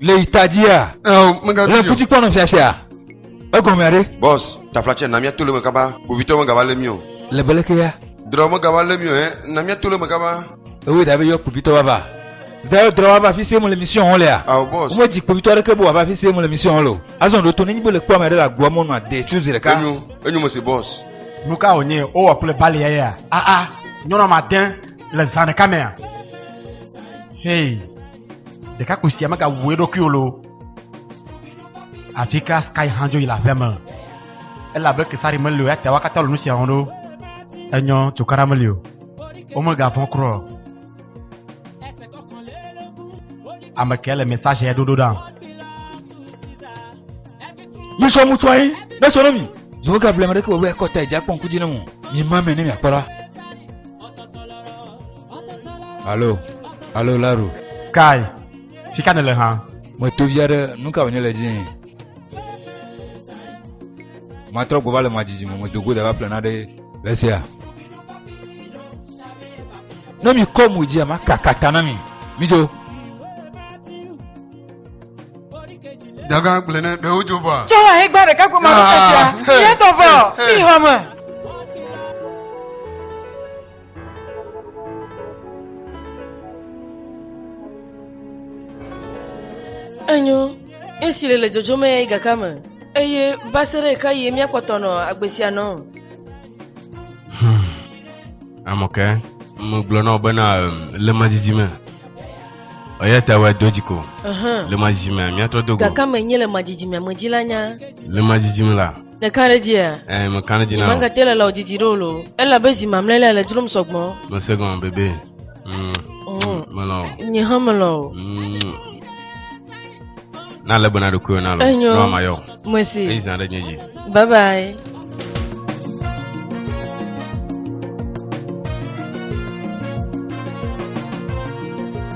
Le yi ta dzia? Le kuti kpɔ nɔ fiafia. Egɔmea ɖe? Bɔs, taflatsɛ na mía to le me kaba. Kpovitɔ megava lé mí o. Le bele ke ya. Drɔ megava lé mí o hɛ, na mía to le me kaba. Ewe da be yɔ kpovitɔ va va. Da yɔ drɔ va va fi se mo le mission ho lea. Ao bɔs. Mo dzi kpovitɔ ɖe ke bo va va fi se mo le mission ho lo. Azɔn ɖo to ne nyi bo le kpɔ ame ɖe le agboa mo nua de chuzi ɖeka. Enyo, enyo me se bɔs. Nuka o nye o wa kule bali ya ya. A a, nyɔnɔ ma den le zan ɖeka mea. Hey. Ɖekakpui sia megawu eɖokui o loo. Afi ka Sky hã dzo yi le aƒea me. Elabe Kesari meli o, eya ta wakatɔ le nu sia wɔm ɖo. Enyɔ tso kara meli o. Womegavɔ̃ kura o. Ame kae le message ya ɖoɖo ɖa? Yisɔ mu tɔe, ne sɔ ne mi. Zowo ka blema ɖeke wɔwɛ kɔta edze akpɔ ŋkudzi ne mo. Mi ma me ne mi akpɔ la. Alo, alo Laro. Sky, fi ka nèle hã? Meto vi aɖe, nu ka wònye le dzii? Matrɔ gbɔ va le madzidzi me, medo go da va ƒle naɖe. Le sia. Ne mikɔ mo dzia, makaka ta na mi. Midzo. Daga gblẽ ne ɖewo dzo vɔa. Tsɔ ha hegba ɖeka goma ɖe teƒea. Yetɔ vɔ, mi hɔme. Enyo, esi le le dzodzom eya yi gaka me, eye va se ɖe ɣeka ɣie míakpɔtɔ nɔ agbe sia nɔ? Hmm. Amɔke, megblɔ na wò bena em, le madidi me. Eya ta wɔ do dzi ko. Ahan. Le madidi me, míatrɔ do go. Gakame nye le madidimea me dzi la nya. Le madidi me la, Nèka ɖe edzia? Ɛɛ, meka ɖe edzi na wò. Magate le lao didi ɖe o lo. Elabe zi mamlɛ lea le dzrom sɔgbɔ. Mese gɔme bebe. Mm, Mm. Melɔ̃ wò. Nye hã melɔ̃ o. Mm. Na legbe na ɖokuiwò na lo. Enyo. Na mayɔ. Eyi Mesi. zã ɖe nye dzi. Bye bye.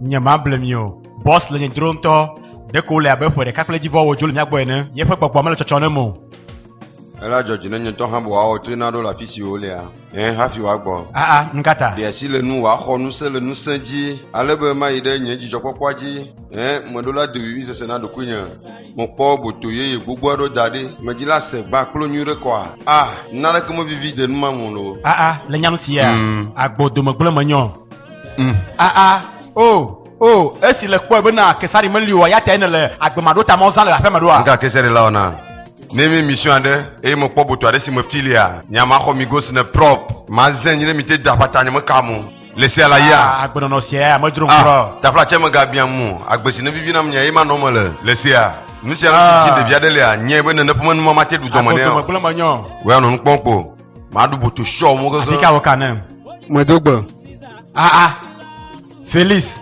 Nyemable mi o. Bɔs le nye dzro ŋutɔ. Ɖeko wòle abe ƒe ɖeka kple edzi vɔ wòdzo le mía gbɔ ene. Yeƒe gbɔgbɔa mele tsɔtsɔm ɖem o. Ela dzɔ dzi ne nye ŋutɔ hã be wòawɔ toe naɖo le afi si wòlea? Ɛ̃, hafi wòagbɔ. Aa, nu ka ta? Ɖe asi le ŋu wòaxɔ ŋusẽ le ŋusẽ dzi ale be mayi ɖe nye dzidzɔkpɔkpɔa dzi. Ɛ̃, meɖo la doʋiʋi sese na ɖokuinye. Mekpɔ boto yeye gbogbo aɖewo da ɖi. Medi la se gbã kplo nyui ɖe kɔa? A, naneke mevivi de nu ma me o loo. Aa, le nya nu sia? Agbo dome gblẽ menye o. Mm. Aa, ah, ah. o, oh, o, oh. esi le kpɔe bena kesari meli o, ya tae nele agbemaɖo ta ma wozã le aƒea me ɖoa? Nga kesari la wɔna. Ne mi mission aɖe eye mekpɔ boto aɖe si me filia, nya maxɔ mi gosi ne prop, mazẽ nyi ne mi te da ƒata nye meka mo. Le sia la ya. Ah, agbenɔnɔ sia ya medzro ŋkɔ. Ah, tafla tse megabiam mo, agbe si ne vivi nam nya ye manɔ me le. Le sia. Nu sia nu si dzi ɖevi aɖe lia, nyɛ be ne ne ƒe menuma mate ɖu dɔme nɛ o. Agbo dɔmegblẽ menyɔ. Wɔ ya nɔ nukpɔm kpo. Maɖu boto sɔ mo gege. Afi ka wò ka ne? Medo gbe. Ah ah. Felix.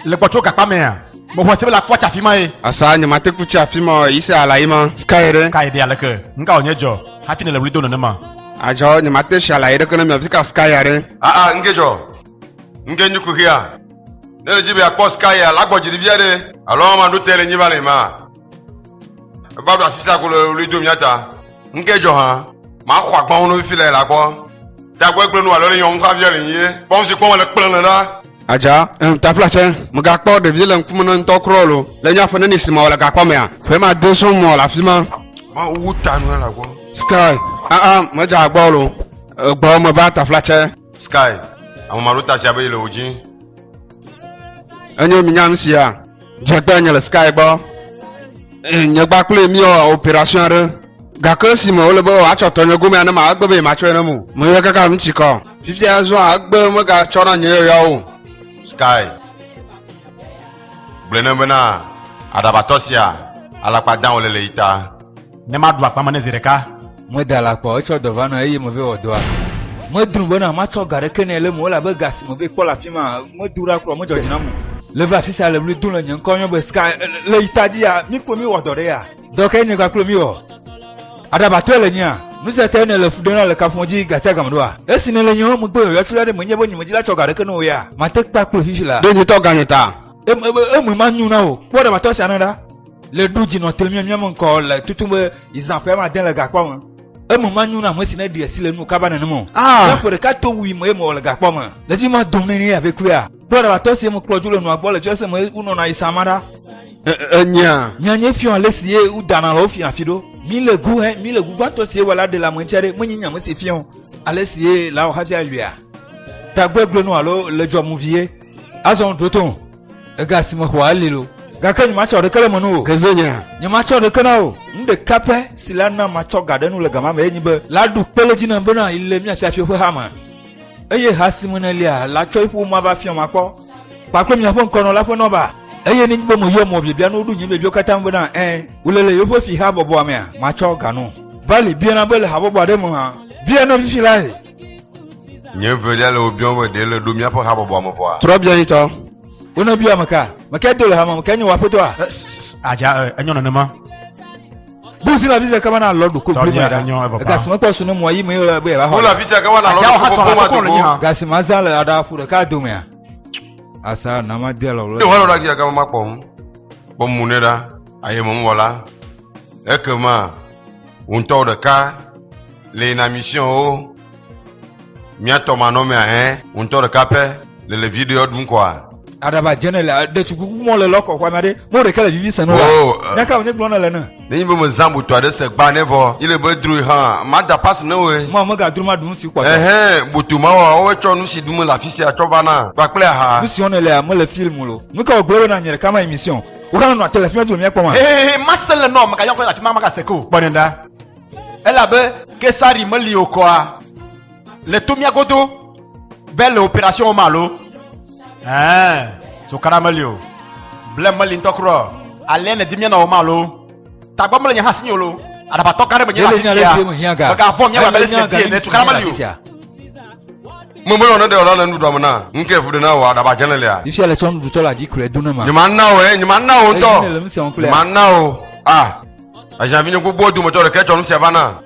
Le gbɔtso gakpa mɛ a. Mo xɔ se be la kɔ tsa fi ma ye. Asa nye ma te ku tsa fi ma o. Yise ala yi ma. Sky ɖe. Sky ɖe aleke. Ŋka wònye dzɔ. Hafi ne le wuli do nene ma. Adzɔ nye ma te si ala yi ɖe ke ne mi afi ka Sky ya ɖe. Ah ah ŋke dzɔ. Ŋke nyi kuxia. Ne le dzi be akpɔ Sky ya la gbɔ dzi ɖe via ɖe. Alo ma ɖo te le nyi va le ma. Eva ɖo afi sia ko le ɣli dom mía ta. Nu ke dzɔ hã, maxɔ agbãwo no fifi le la kpɔ. Dagbe gblẽ nu alo le nyɔnu kafia le nyi ye. Kpɔm si kpɔm le kplẽ le la. Adza, em tafla tsɛ, megakpɔ ɖevi le ŋkume na ŋutɔ kurɔ lo. Le nya ƒe neni si mawɔ le gakpɔ mea? Ƒe ma de sɔŋ mɔ le afi ma. Mawu ta nu la gbɔ. Sky, aa, medze agbɔ lo. Egbɔ meva tafla tsɛ. Sky, ame ma ɖo ta sia be yi le wo dzi. Enyo mi nyam sia. Dzegbe nye le Sky gbɔ. Eh, nye gba kple mi wɔ operation aɖe. Gake si me wole be woatsɔ tɔ nye gome ne ma egbe be matsɔe ne mo. Me yɔ kaka mi tsikɔ. Fifia zɔ agbe megatsɔ na nye yɔyawo. Sky. Gblẽ ne bena aɖabatɔ sia alakpa dã wòle le yi ta. Ne maɖu akpa me ne zi ɖeka. Meda la kpɔ, etsɔ dɔ va nɔ eye me vɛ wɔ dɔa. Medru bena matsɔ ga ɖeke nɛ le me o elabe ga si me vɛ kpɔ le afi ma medu ɖa kura o, medzɔ dzi nam o. Le va afi sia le ɣli dom le nye ŋkɔ yɔm be ska le yi ta dzi ya, mi koe mi wɔ dɔ ɖe ya. Dɔ kae nye kpakple mi wɔ? Aɖabatɔe le nyea? Nu sia tae nèle fu ɖem la le kaƒomɔ dzi ga sia ga me ɖoa? Esi nèle nye home gbe yɔyɔ tsila ɖe menye be nyemedi la tsɔ ga ɖeke ne wò ya? Mate kpakple fifi la. Ɖe ŋutɔ ganye ta? Eme manyo na wò. Kpɔ aɖabatɔ sia na ɖa. Le ɖu dzi nɔ te miam miam ŋkɔ le tutu be izã ƒe ma den le gakpɔ me. Eme ma nyu na ame si ne ɖi esi le nu kaba nenem o. Ah. Ne ƒe ɖeka to wui me ye me le gakpɔ me. Le dzi ma dom ne ne ya be kuia. Kpɔ ɖa latɔ si ye me kplɔ dzo le nua gbɔ le fiase me u nɔ na izã ma ɖa. Enyea. Nya nye fiɔ ale si ye u dana le wo fiɔ afi ɖo. Mi le gu he mi le gu gbãtɔ si ye wɔ la ɖe le ame ŋutia ɖe menye nya me si fiɔ ale si ye la wɔ hafi aluia. Tagbe gblenu alo le dzɔ mu vi ye. Azɔ ŋu ɖoto. Ega si mexɔa eli lo. Gake nyematsɔ ɖeke le me nu o. Ke ze nya. Nyematsɔ ɖeke na o. Nu ɖeka pɛ si la na matsɔ ga ɖe nu le gama me ye nyi be. La ɖu kpe le dzi nam bena yi le mía fiafio ƒe ha me. Eye ha si me nèlia, la tsɔ yi ƒu ma va fiɔ ma kpɔ. Kpa kple miaƒe ŋkɔnɔ la ƒe nɔ ba. Eye nenye be meyɔ mɔ biabia nuwo ɖu nye biabiawo katã ŋu bena ẽ, wole le yewoƒe fi habɔbɔa mea, matsɔ ga no. Vali, biana be le habɔbɔ aɖe me hã. Bia nɔvifi lae. Nye velia le wò biɔm be ɖe le ɖo míaƒe habɔbɔa me vɔa? Trɔ biɔ nyitɔ. Wonɔ biɔ ame ka? Ame kae do le hame me? Kae nye wò aƒetɔa? Adza, e, enyo nenema. Bu zi le afi sia kaba na lɔ ɖoko Tɔdzi blema ɖa. aɖanyɔ evɔ paa. Ega si mekpɔ su ne mɔa yi me ye wòle be yeava xɔ Wole le. afi sia ke wana Adza, lɔ woha ɖoko sɔ na boma koklo le nyi dogo. ha. Ga si mazã le aɖa ƒu ɖeka domea. Asa na made lɔ Ne wòanɔ ɖe afi sia ke makpɔ nu, kpɔ mo nɛ ɖa, aye me mewɔ la, ekema Wò ŋutɔwò ɖeka le yi na mission wo. Míatɔ manɔmea hẽ, wò ŋutɔ ɖeka pɛ le le video ɖum kɔa? Aɖaba dzene le ɖetugbi ku mɔ le lɔkɔ xɔa made mɔ ɖeke le vivi seno la. Nyaka wonye gblɔ ne le ne. Ne nyi be me zã botɔ aɖe se gba ne vɔ yi le be drui hã ma da pass ne woe. Mɔ me ga dro ma ɖu nusi kpɔtɔ. Ehɛ boto ma wa woe tsɔ nusi ɖu me le afisia tsɔ va na kpakple aha. Nusi wɔne lea me le film lo. Nuka wo gblɔ be na nye ɖeka ma yi mission. Wo ka nɔnɔ ate le finyɔtu me míakpɔ ma? Hehehe, mase le nɔ meka yɔkɔ afi ma magase ke o, kpɔ nɛ ɖa. Elabe Kesari meli o kɔa le to mía godo be le operation wɔm alo? Ɛɛ, so kana meli o. Blem meli ŋutɔ kura o. Alea nèdi míanɔ wɔm alo? Tagbɔ mele nye hã si nyo lo. Aɖabatɔ gã ɖe menye afi sia. Megavɔn míawa bele sine tie ne tukana meli o. Meme lɔ ne ɖe ɔla le nuɖuɖua me na. Nuke efu ɖe na wò aɖaba dze le lia. Ifia le tsɔ nuɖutɔ la dzi kure do ne ma. Nye ma na wò ɛ, nye ma na wò ŋutɔ. Nye ma na wò. Ah, aziavi nye gbogbo dome tɔ ɖe ke tsɔ nu sia va na.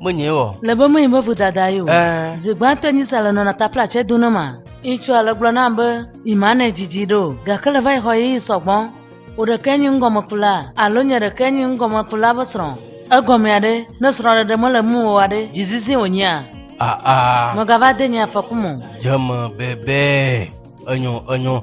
Menye o. Le be menye be vodada ye o. Eh. Zi gbãtɔ nyi sa le nɔna tapla tsɛ do ne ma. Ŋutsu ale gblɔ nam be yima ne dzidzi ɖo. Gake le va yi xɔ ye yi sɔgbɔ. Wò ɖekee nyi ŋgɔmekula alo nye ɖekee nyi ŋgɔmekula be srɔ̃. Egɔmea ɖe? Ne srɔ̃ɖeɖe mele ŋu o wa ɖe, dzizizi wònyea? Aa. Mègava de nye afɔku me o. Dzeme bebee. Enyo, enyo.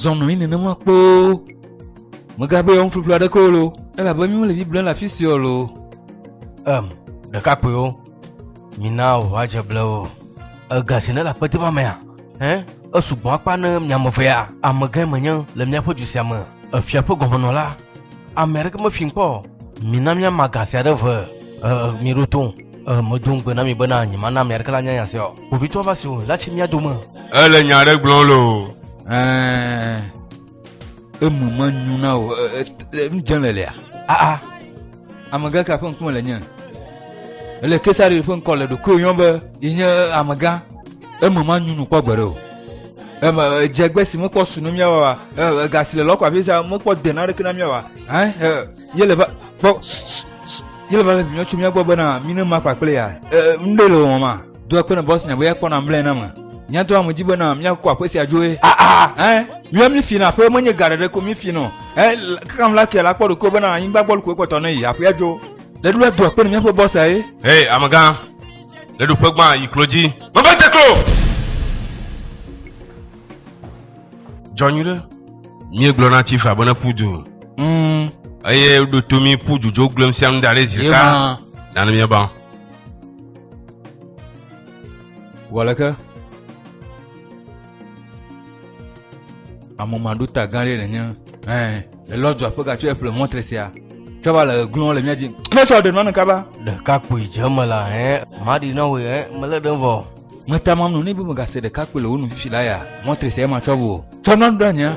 zɔ nɔ anyi nenema kpoo megabe yewo ŋuƒuƒlu aɖeke o lo elabe mi mele biblia le afi si o lo em ɖekakpuiwo mina ʋua dze ble o ega si ne le akpete ma mea hɛ esugbɔ akpa ne miame vea amegãe menye le míaƒe du sia me efia ƒe gɔmenɔla Ame aɖeke mefi kpɔ o. Mina míama ga sia ɖe ʋe. Ee, míɖo to. Ee, medo ŋugbe na mi bena nyemana ame aɖeke nanya nya sia o. Kpovitɔa va si o, la tsi mía dome. Ele nya aɖe gblɔm loo. Ɛɛ, eme menyo na wò. Ee, nu dzem le lea? Aa, Amegã ka ƒe ŋkume le nye? Ele Kesari ƒe ŋkɔ le ɖokuiwo yɔm be yi nye amegã. Eme manyu nu kpɔ gbeɖe o. Eme edze gbe si mekpɔ su ne míawa wa. Ega si le lɔkɔ afi sia mekpɔ de na ɖeke na míawa. Hã yele va kpɔ yele va le vinyɔ tso mía gbɔ bena mí ne ma kpakple ya. Ŋɖe le wɔwɔ ma. Do akpe na Bosnia be ekpɔ na mlɔe na me. Mía ŋutɔ ame dzi bena míakɔ aƒe sia dzoe. Aa, ɛ, míawo mífi na aƒe menye ga ɖeɖe ko mífi nɔ. Ɛ, kaka ŋu la ke la kpɔ ɖokuiwo bena anyigba gbɔ lukoe kpɔtɔ ne yi aƒea dzo. Ɖeɖu la do akpe na míaƒe bɔsa ye. Hɛ, amegã, le ɖoƒe gbã yi klo dzi. Meva dze klo! Dzɔ nyuiɖe. Míegblɔ na Chifa be ne ƒu du. Mm. Eye ɖo to mí ƒu dzudzo gblem sia nu da ɖe zi ɖeka. Nane míaba. Wɔleke amɔmaɖota gã ɖe nenye ɛ elɔdzɔ aƒega tso eƒle mɔtre sia tsɔ va le glɔn le mía dzi ne tsɔ ɖe nɔnɔ kaba ɖeka kpui dze me la ɛ maɖi na wò ɛ mele ɖem vɔ meta mam nɔ ne be megase ɖeka kpui le wo nu fifi la ya mɔtre sia ema tsɔ vɔ tsɔ nɔnɔ ɖe anya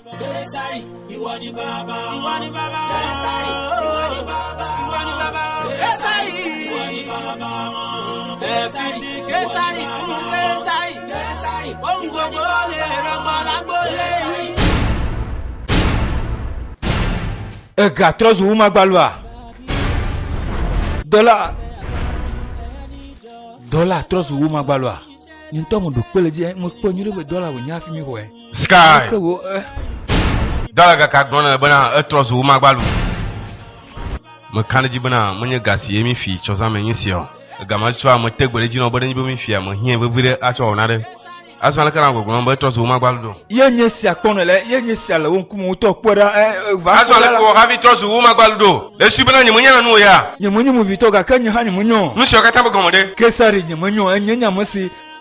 Egatrɔ zu wumagbalua? Dɔla dɔla trɔ zu wumagbalua? Ŋutɔ mu ɖu kpe le dzi ŋu kpɔ nyuɖe be dɔla wònye hafi mi xɔɛ. Sky. Ke wo eh. Dala gaka gblɔ na bena etrɔ zu womagba lu. Meka ɖe dzi bena menye ga si ye mi fi tsɔzã me nyi sia o. Ega ma tsɔ ame te gbe ɖe dzi nɔ be nenye be mi fia me hiɛ vevi ɖe atsɔ wɔna ɖe. Azɔ aleke na gbɔgblɔ be etrɔ zu womagba lu do. Ye nye sia kpɔ ne le ye nye sia le wo ŋkume wotɔ kpɔ ɖa eh, eh, va Azɔ kpɔ ɖa aleke la. wɔ hafi trɔ zu womagba lu do. Le si bena nye menyana nu o ya. Nye menye movitɔ gake nye hã nye menyɔ. Nu sia katã be gɔme ɖe. Kesari nye menyɔ enye nye ame si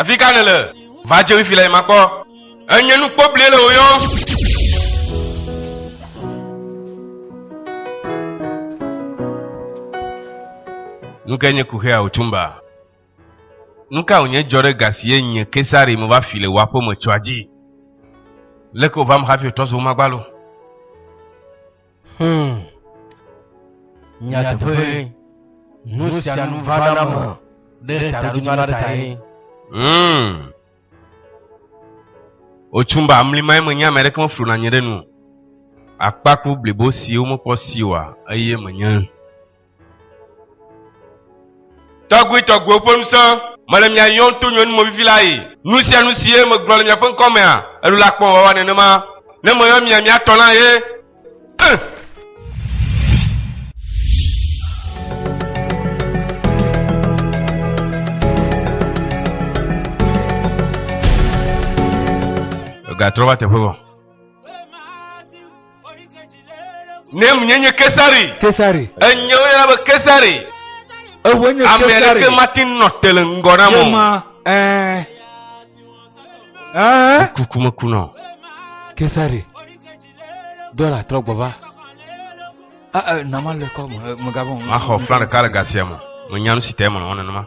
Efi ka nèle? Va dze wifi le makpɔ. Enye nu kpobli le wò yɔm. Nu ke nye kuxea wò tumba? Nu ka wònye dzɔ ɖe ga si ye nye Kesari meva fi le wò aƒe me tsɔa dzi? Leke wòvam hafi wòtrɔ zu womagbaloo? Hmm. Nyateƒe. Nu sia nu va na me ɖe taɖodzinu aɖe tae. Hmm. Otsum ba mlimae menye ame aɖeke meflu na nye ɖe nu. Akpaku blibo siwo mekpɔ si oa eye menye. Tɔgbuitɔgbuiwo ƒe ŋusẽ, mele mia yɔm to nyɔnu movivi la yi. Nu sia nu si ye megblɔ le miaƒe ŋkɔ mea, eɖo la kpɔ wòawa nenema. Ne meyɔ mia mia tɔ la ye. Eh! Gatrɔ va teƒe vɔ. Ne menye nye Kesari. Kesari. Enye wo yɔna be Kesari. Ewo nye Kesari. Ame aɖeke mate nɔ te le ŋgɔ na mo. Yema ɛɛ. Ɛɛ. Kuku meku nɔ. Kesari. Dɔla trɔ gbɔ va. Ɛɛ nama le kɔ me megabɔ. Maxɔ flan ɖeka le gasia me. Menyam si te me nɔ nenema.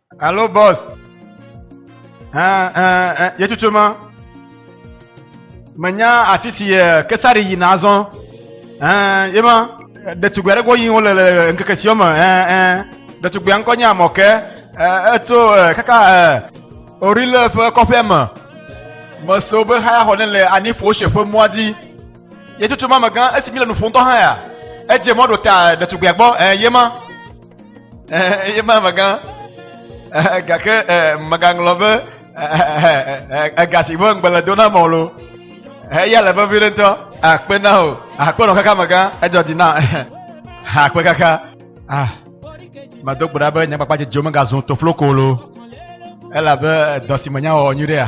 Hello, boss. Uh, uh, uh, Yetutuma. Menya afi si eh, kesari yina azɔ. Uh, yema ɖetugbui aɖe gbɔ yim wole le ŋkeke siwo me. Uh, uh, ɖetugbui ŋkɔ nye Amɔke. Uh, etso uh, kaka uh, Orile ƒe kɔƒea me. Meso be haya xɔ ne le Anifo se ƒe mɔa dzi. Yetutuma megã esi mi le nu ƒom tɔ hã ya. Edze mɔ ɖo ta ɖetugbuia gbɔ. Uh, yema. eye ma megã gake megaŋlɔ be ega si be ŋgbele do na mɔ lo eya le vevi ɖe ŋutɔ akpe na o akpe nɔ kaka megã edzɔ di na akpe kaka ah medo gbe ɖa be nyakpakpa dzedzio megazun tofloko lo elabe dɔ si menya wɔwɔ nyuiɖea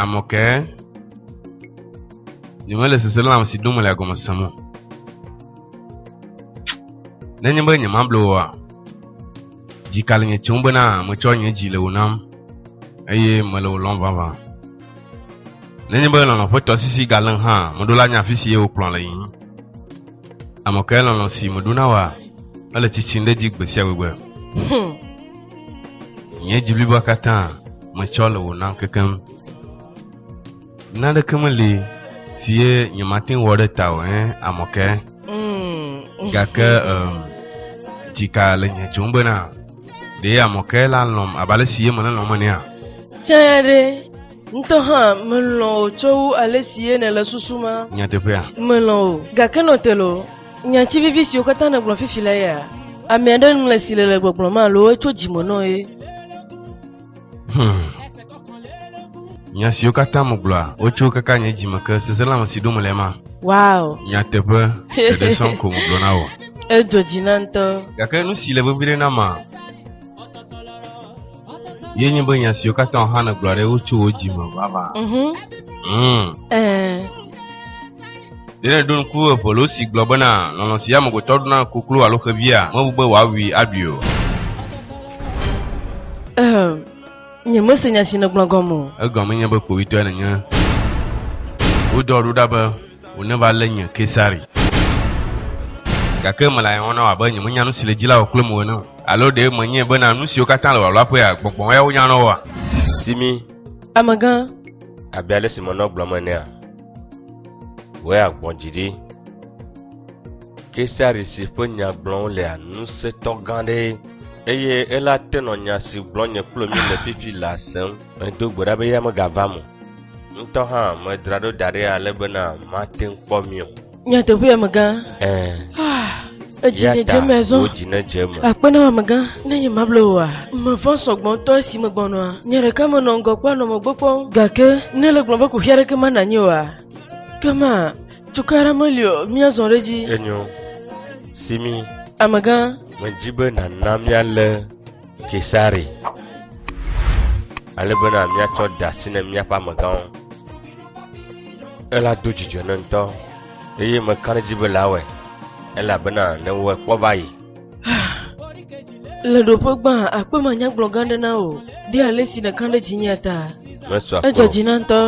Amɔkɛ, nyemele seselãm si dom le agɔme sem o. Nenye be nyemable oa, dzika le nye tsom bena metsɔ nye dzi le wò nam eye mele wò lɔm vavã. Nenye be lɔlɔ̃ ƒe tɔsisi galém hã, meɖo la nye afi si ye wòkplɔ le yiyim. Amɔkɛ lɔlɔ̃ si meɖo na wòa ele tsitsim ɖe edzi gbe sia gbegbe. Hmm. Nye dzi bliboa katã. metsɔ le wò nam kekeŋ. Naneke meli si ye nyemate ŋu wɔ ɖe ta o, hẽ, amɔke. Mm. Gake um, dzika le nye tsom bena, ɖe amɔke la lɔm abe ale si ye mele lɔm enea? Tsã ɖe, ŋutɔ hã melɔ̃ wò tso wu ale si ye nèle susum ma. Nyateƒea? Melɔ̃ wò, gake nɔ te loo. Nya tsi vivi siwo katã nègblɔ fifi le ya? Ame aɖe ŋlɔe si le le gbɔgblɔm alo etso dzi me nɔe? Hmm. Nya siwo katã megblɔa, wotso kaka nye dzime ke. Seselãme si ɖom mele ema. Wow. Nyateƒe, ɖeɖe sɔŋ ko megblɔ na wò. Edzo dzi na ŋutɔ. Gake nu si le vevi ɖe na ma. ye nye be nya siwo katã Yohane gblɔ ɖe wotso wo dzi me vava. Mhm. Mm. Eh. Ɖe nèɖo ŋku evelo si gblɔ bena lɔlɔ si amegbetɔ ɖo na koklo alo xevia mebu be wòawui aɖui o. Eh. Nye mese nya si nègblɔ gɔme o. Egɔme nye be kpovitɔe nènye. Wodɔ ɖo ɖa be Woneva lé nye Kesari. Gake mele aye wɔm na wò abe nyemenya nu si le dzi la wò kple mo ene o. Alo ɖe menyae bena nu siwo katã le wò aluaƒea, gbɔgbɔwo yawo nyana woa? Simi. Amegã. Abe ale si menɔ gblɔm enea, wòe agbɔ dzi ɖi. Kesari si ƒe nya gblɔm wolea ŋusẽtɔ gã aɖee. Eye eya te nɔ nya si gblɔm nye kplo mi le fifi lea sem. Medo gbe ɖa be eya megavam o. Ŋutɔ hã medra ɖo da ɖi ale bena mate ŋu kpɔ mi o. Nyateƒea megã. Ɛɛ. Ah, edzi Eya ne ta dze me zɔ. wò dzi nedze eme. Akpe na wò amegã, ne nye mable wòa? Mevɔ̃ sɔ gbɔ ŋutɔ esi megbɔnɔa. Nye ɖeka menɔ ŋgɔ kpɔa nɔ megbe kpɔm. Gake ne ele gblɔm be kuxi aɖeke mele na nye oa, ke ma, tukɔ aɖe meli o, míazɔ ɖe edzi. Enyo, Simi, Amegã, medi be nàna míalé Kesare, ale bena míatsɔ de asi ne míaƒe amegãwo. Ela do dzidzɔ ne ŋutɔ, eye meka ɖe edzi be la wɔe, elabena ne wɔe kpɔ va yi. Le ɖoƒe gbã, akpe manyagblɔ gã aɖe na wò, ɖe ale si nèka ɖe dzinye ta. Edze dzi na ŋutɔ.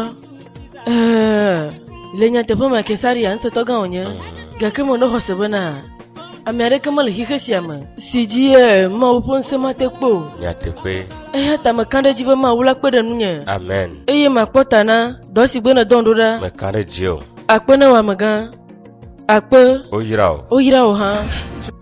Ɛɛ, le nyateƒe me Kesaria ŋusẽtɔgã wònye, gake menɔ xɔse bena ame aɖeke mele xixe sia me si dzi eh, Mawu ƒe ŋusẽ mate kpɔ o. Nyateƒe. Eya ta mekã ɖe edzi be Mawu la kpe ɖe ŋunye Amen. eye makpɔ ta na dɔ si gbe nèdɔm ɖo ɖa. Mekã ɖe edzi o. Akpe na wò amegã. Akpe. Woyra o. Woyra wò hã.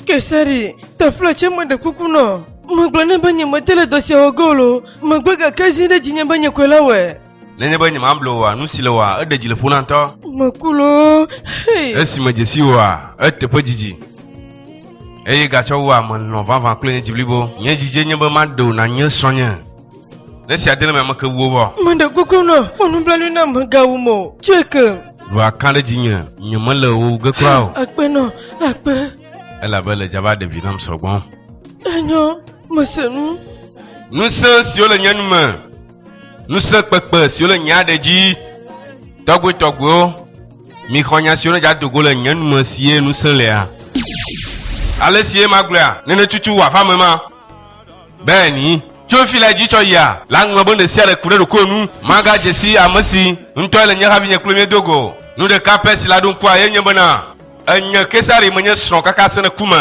Kesari, taflo tsɛ meɖe kuku nɔ. Megblɔ nɛ be nyemede le dɔ sia wɔ ge o loo, megbe gake zi ɖe dzinye be nye koe la wɔe. Nenye be nyemable oa, nu si le oa, eɖe dzi le ƒona ŋutɔ. Meku loo, hei. Esi medze si oa, eteƒe dzidzi. Eye gatsɔ wu ame lɔ vavã kple nye dzi blibo. Nye dzidzi nye be maɖe wò nànye srɔ̃nye. Ne esia de le eme ameke wuwo bɔ. Meɖe kuku nɔ, wɔ nublanui nam mègawum o. Tsɔe kem. Ɖo akã ɖe dzinye, nyemele wò wu ge kura o. Akpe nɔ, akpe. Elabe le dzava ɖe vi nam sɔgbɔ. Enyɔ, mese nu. Ŋusẽ siwo le nye nu me. ŋusẽkpekpe siwo le nye aɖe dzi tɔgbuitɔgbuiwo mixɔ nya siwo nedza dogo le nye nume sie ŋusẽ lea ale sie magblɔa nene tutu wòava me ma beni tso fi la dzi tsɔ yia la ŋlɔ be ɖe sia ɖe ku ɖe ɖokuiwo nu magadze si ame si ŋutɔe le nye havi nye kple miedo go nu ɖeka pɛ si la ɖo ŋkua ye nye bena enye kesari menye srɔ̃ kaka sẽne ku me